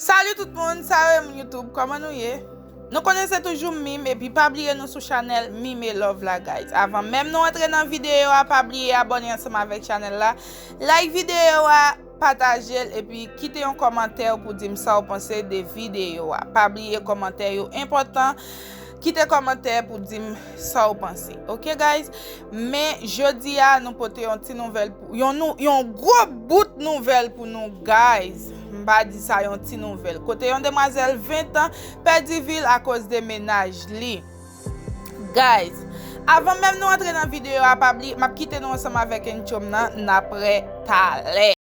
Salut tout moun sa yo e moun YouTube koman nou ye Nou konnen se toujou mime epi pa bliye nou sou chanèl mime love la guys avan menm nou antre nan videyo a pa bliye abòne ansanm avèk chanèl la like videyo a patajel epi kite yon kòmantèw pou dim sa ou panse de videyo a pa bliye kòmantè yo enpòtan Kite kòmantè pou dim sa ou panse ok guys men jodi a nou pote yon ti nouvèl pou yon nou yon gwo bout nouvèl pou nou guys m pa di sa yon ti nouvèl kote yon demwazèl 20 ans pèdi vil akoz de mennaj li guys avan menm nou antre nan videyo a pa bliye m ap kite nou ansanm avèk intro m nan n ap re talè.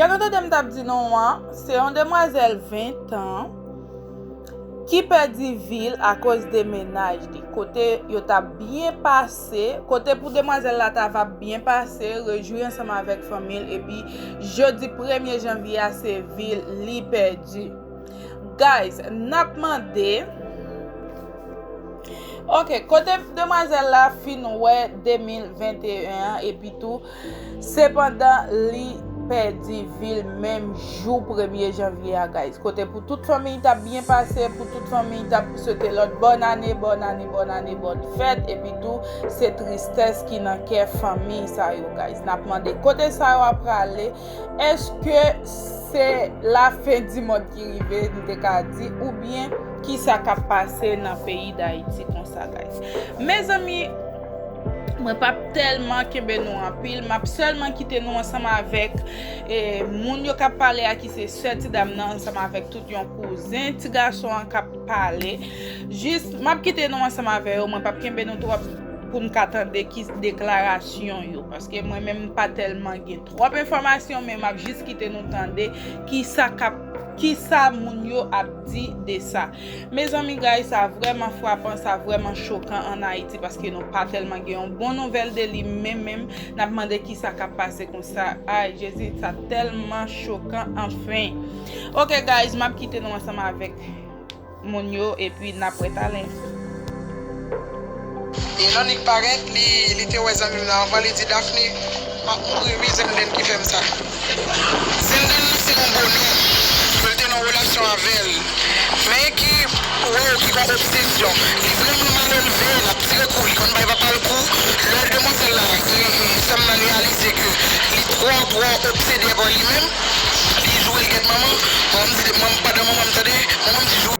Jan nou te dem tap di nou an, se yon demwazel 20 an ki pedi vil akoz de menaj li. Kote yo tap byen pase. se, kote pou demwazèl la ta va byen pase, rejwi ansanm avèk fanmi l epi jodi premye janvye a se vi li pèdi. Guys, n ap mande. Ok, kote demwazèl la fin wè 2021 an epitou Sepandan li pèdi vil menm jou premye janvye a guys kote pou tout fanmiy tap byen pase pou tout fanmiy tap swete lòt bòn ane bòn ane bòn ane bòn fèt epi tou se tristès ki nan kè fanmiy sa yo guys nap mande kote sa yo ap prale eske se la fen di mond ki rive nou te ka di oubyen kisa kap pase nan peyi dayiti konsa guys mezanmi. Mwen pap tèlman kenbe nou anpil, map sèlman kite nou ansanm avèk moun yo kap pale a ki se sè ti dam nan ansanm avèk tout yon kouzen ti gason an kap pale. Jis map kite nou ansanm avè yo, mwen pap kenbe nou twòp pou n ka tande ki deklarasyon yo paske mwen menm m pa tèlman gen twòp enfòmasyon men map jis kite nou tande ki sa kap ki sa moun yo ap di de sa. Mezanmi gay sa vrèman frapan sa vrèman chokan an ayiti paske nou pa tèlman gen yon bon nouvèl de li menm menm nap mande kisa kap pase konsa ayy jezi sa tèlman chokan anfen ok guys map kite nou ansanm avèk moun yo epi nap wè talen. E jan Nick parèt li te wè zanmim nan anvan li di Daphne map mouri ui Zenden ki fèm sa. Zenden nan se yon bonè ke l te nan relasyon avè l men ki wè w ki gon obsesyon li vrèman malelve lap tire kou li konn bay papa l kou lè demwazèl la sèm nan reyalize ke li twò twò obsede par li menm li joure l gèt manman manman m di manman m pa dan manman m tande manman m di joure.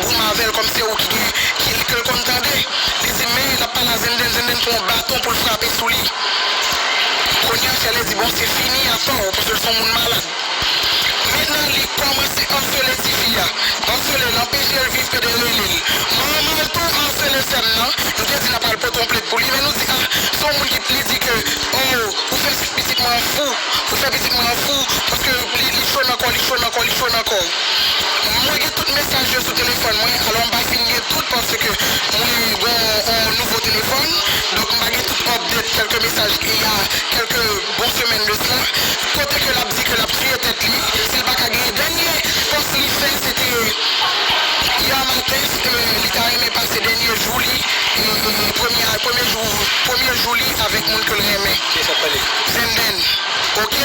goumen avèl kòm se ou ki gen kil kel konn tande li di men lap pale a zenndenn zenndenn pran yon baton poul frape sou li kounya Shirley di bon se fini afèw paskel son moun malad mentnan li kòmanse arsele tifi a arsele anpechel viv pede relel manmanl tou arsele sèm nan nou te di nap al pote yon plent pou li men nou di ah son moun ki li di ke oh ou fè pitit mwen an fou. Ou fè pitit mwen an fou paske li cho nan kò, li cho nan kò, li cho nan kò. Mwen gen tout mesaj yo sou telefòn mwen, alò m pa fin gen tout paske mwen gon on nouvo telefòn, donk m pa gen tout update kèlke mesaj il y a kèlke bon semèn de cela kote ke l ap di ke l ap tiye tèt li si l pa ka genyen dènye pòs li fè se te yè maten li ta renmen pase dènye jou li e premye jou li avèk moun ke l renmen. Venden. Ok.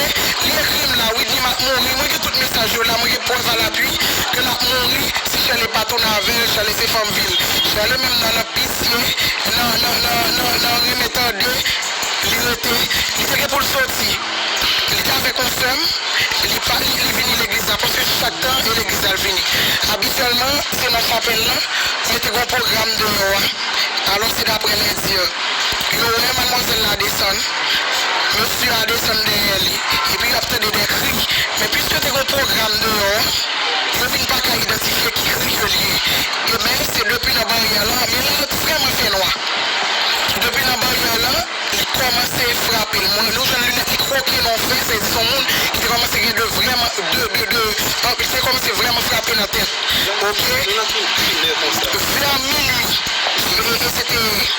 Li ekri m la wi di m ap mouri mwen gen tout mesaj yo la mwen gen prèv a lapui ke lap mouri si Shirley pa tounen avèl Shirley se fanm vil Shirley menm nan nan pisye nan nan nan nan nan renmen tande li rete li te gen pou l soti li te avèk yon sè m li pa li li vini legliz la prèske chak tan e legliz la l vini abityèlman se nan chapèl lan men te gen yon pwogram deyò a alò se daprè lè di yo wè madmwazèl la desann Mesye a desann dèyè li, epi y ap tande dè kri. Men piske te gen yon pwogram deyò a, yo vin pa ka idantifye ki kri ke l ye. E men, se depi nan baryè lan, men la vrèman fè nwa. Depi nan baryè lan, li kòmanse frape l. Mwen, nou jwenn linèt li kwoke nan yon fè, sa vle di se yon moun ki te kòmanse gen de vrèman, de, de, de, li te kòmanse vrèman frape nan tèt. Ok. Vè mini, e, e se te.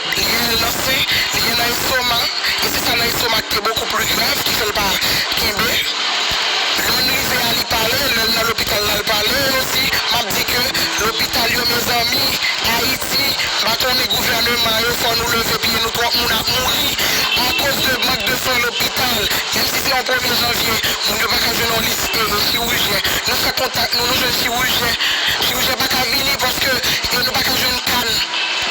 Li gen nan nan sen, li gen nan estomak, e se sa nan estomak ki bokou pli grav ki fè l pa kenbe. Lè n rive a li pale, lè l nan lopital la l pale osi. M ap di ke lopital yo mezanmi, Ayiti, m pa konnen gouvèneman yo fò nou leve pye nou twòp moun ap mouri akoz de mank de swen lopital. Menm si se yon premye janvye, moun yo pa ka jwenn yon lis chirujen. Nou fè kontak nou, nou jwenn chirujen, chirujen pa ka vini paske nou pa ka jwenn kann.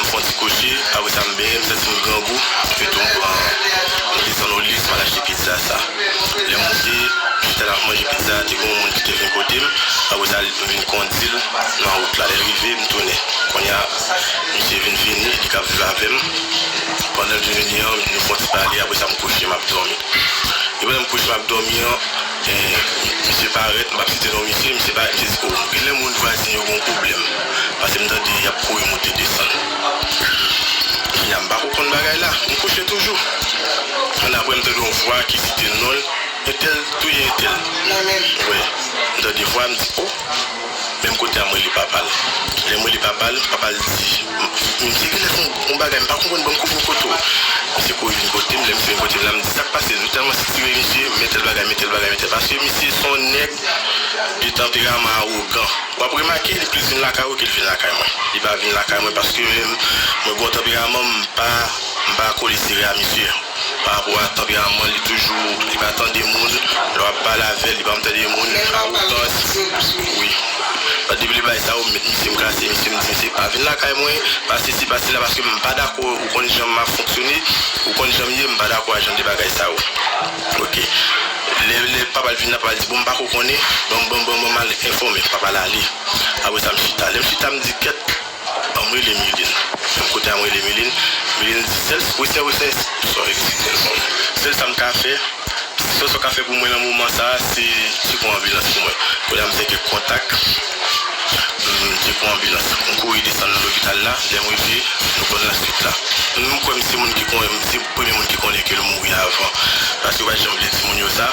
M fon ti koche, apre sa m benyen, m santi m grangou, pito m pran, m desann o lye m al achte pizza sa. Lè m monte, m chita la m manje pizza a, te gen yon moun ki te vin kote m, apre sa m vin kondi l nan wout la, lè l rive m tounen. Kounye a, misye vin vini, li k ap viv avè m, pandan l vin vini an, nou fon ti pale, apre sa m kouche m ap dòmi. Depi lè m kouche m ap dòmi an. Misye parèt, m'ap site non misye, misye parèt, misye di, oh, genlè moun vwazen yo gen yon pwoblèm, pase m'tande y'ap kouri moute desann. Kounya m'pako konn bagay la, m'kouche toujou. Annapre m'tande yon vwa ki site non'l, entèl touye entèl. Mwen menm? Wè, m'tande vwa, m'di, oh! Menm kote a m rele papa l. Lè m rele papa l, papa l di m se genlè on bagay m pa konprann banm kou bokoto. Misye kouri vin kote m, lè misye vin kote m la m di sak pase l. Nou tèlman sitire misye, men tèl bagay, men tèl bagay, men tèl bagay. Paske misye se on nèg de tanperaman awogan. W ap remake li plis vin lakay ou ke l vin lakay mwen. Li pa vin lakay mwen paske mwen gen on tanperaman m pa. M pa kole sere a misye pa rapò a tanperaman li toujou li pa tande moun lè wap pale avèl li pa janm tande moun a otans wi lòt depi li bay sa yo m met misye m klase misye m di misye pa vin lakay mwen pa sesi pa sela paske m pa dakò ou konn jan map fonksyone ou konn janm ye m pa dakò a jan de bagay sa yo ok lè lè papa l vin la papa l di bon m pako konnen banm banm banm banm al enfòme papa l ale apresa m chita lèm chita m di kèt. Banm rele miline menm kote a m rele miline miline di sèl wi sè wi sè sò eskizel bon sèl sam ka fè sèl sa w ka fè pou mwen nan moman sa se se pou anbilans pou mwen kounye a m fè kèk kontak m se pou anbilans m kouri desann nan lopital la lèm rive nou konn la swit la m kwè m se moun ki konnen m se premye moun ki konnen ke l mouri avan paske yo pa janm vle di moun yo sa.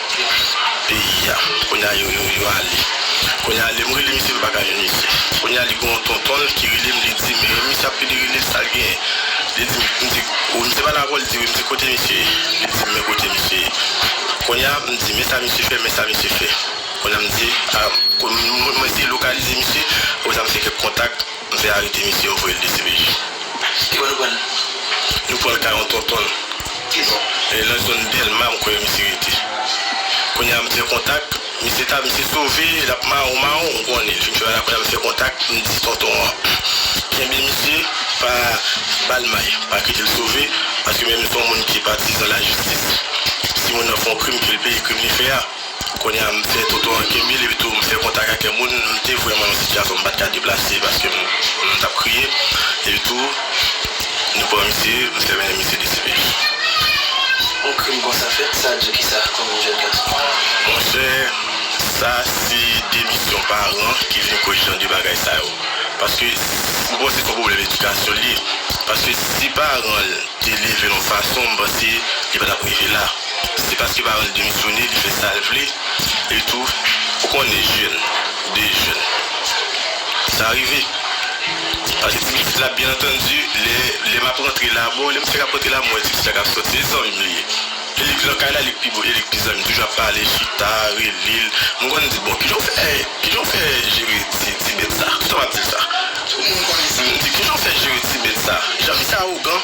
peyi a kounye a yo yo ale kounye a lèm rele misye mpaka jwenn misye kounye a li gen yon tontonl ki relem li dim e misye ap pede relel sal genyen li dim mdi wi misye pale avèw li di wi mdi kote misye ye li dim men kote misye ye kounye a mdi men sa misye fè men sa misye fè kounye a mdi mwen eseye lokalize misye apre sa mfè kèk kontak. Nou fè arete misye yo voyel dcpj. Ki bò nou prann. Nou pranl kay yon tontonl. Ki bò. E nan zone delma m kwè misye rete. Kounye a m fè kontak. Misye ta misye sove lap mawon mawon m konnen l. Fin fè ala kounye a m fè kontak m di tonton an kenbe misye pa bal may pa kitel sove paske menm son moun ki patizan lajistis si moun nan fon krim kel peye krim li fè a. Kounye a, m fè tonton an kenbe l epitou m fè kontak ak kèk moun. M te vrèman nan yon sitiyasyon m pa t ka deplase paske m t ap kriye. Epitou, nou pran misye, m fè mennen misye desipe. Yon krim konsa fèt, sa di w ki sa kòm yon jèn gason? Monchè, sa se de misyon paran ki vin koz jan de bagay sa yo. Paske, m panse se yon pwoblèm edikasyon l ye. Paske, si paran l te leve l yon fason, m panse li pa t ap rive la. Se paske Baronne demisyone li fè sal vle e tou ou konnen jeune de jeune sa rive pase ti pitit la byen antandi lè lè map rantre la bon lèm fèk ap rantre la m wè ti pitit la kap soti e zanmim li ye e li k lan kay la li k pi bo e li k pi zanmim toujou ap pale chita relel m konn di bon kijanw fè kijanw fè jere ti ti bèt sa tout tan map dil sa m di kijanw fè jere ti bèt sa jan misye awogan.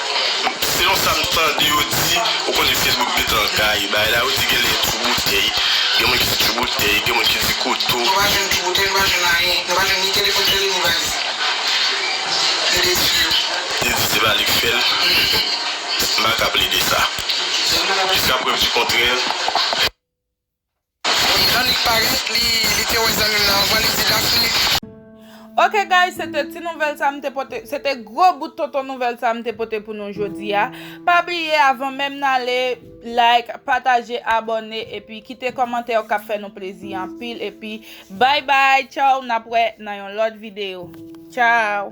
Selon sa m tande yo di, ou konnen Facebook met langay, bagay la yo di genlè e tjou boutèy, gen moun ki di tjou boutèy, gen moun ki di kouto. Nou pa jwenn tjou boutèy, nou pa jwenn anyen, nou pa jwenn ni telefòn sèlil ni valiz. Yo te di yo. Te di se pa li k fè l. M pa ka plede sa. Jiska prèv di kontrè. Bon jan li parèt li te wè zanmim nan anvan li di la Philippe. Ok guys se te ti nouvèl sa m te pote se te gwo bout tonton nouvèl sa m te pote pou nou jodi a pa bliye avan menm n ale like pataje abòne epi kite kòmantè yo kap fè nou plezi anpil epi bay bay tchaww nap wè nan yon lòt videyo tchaww.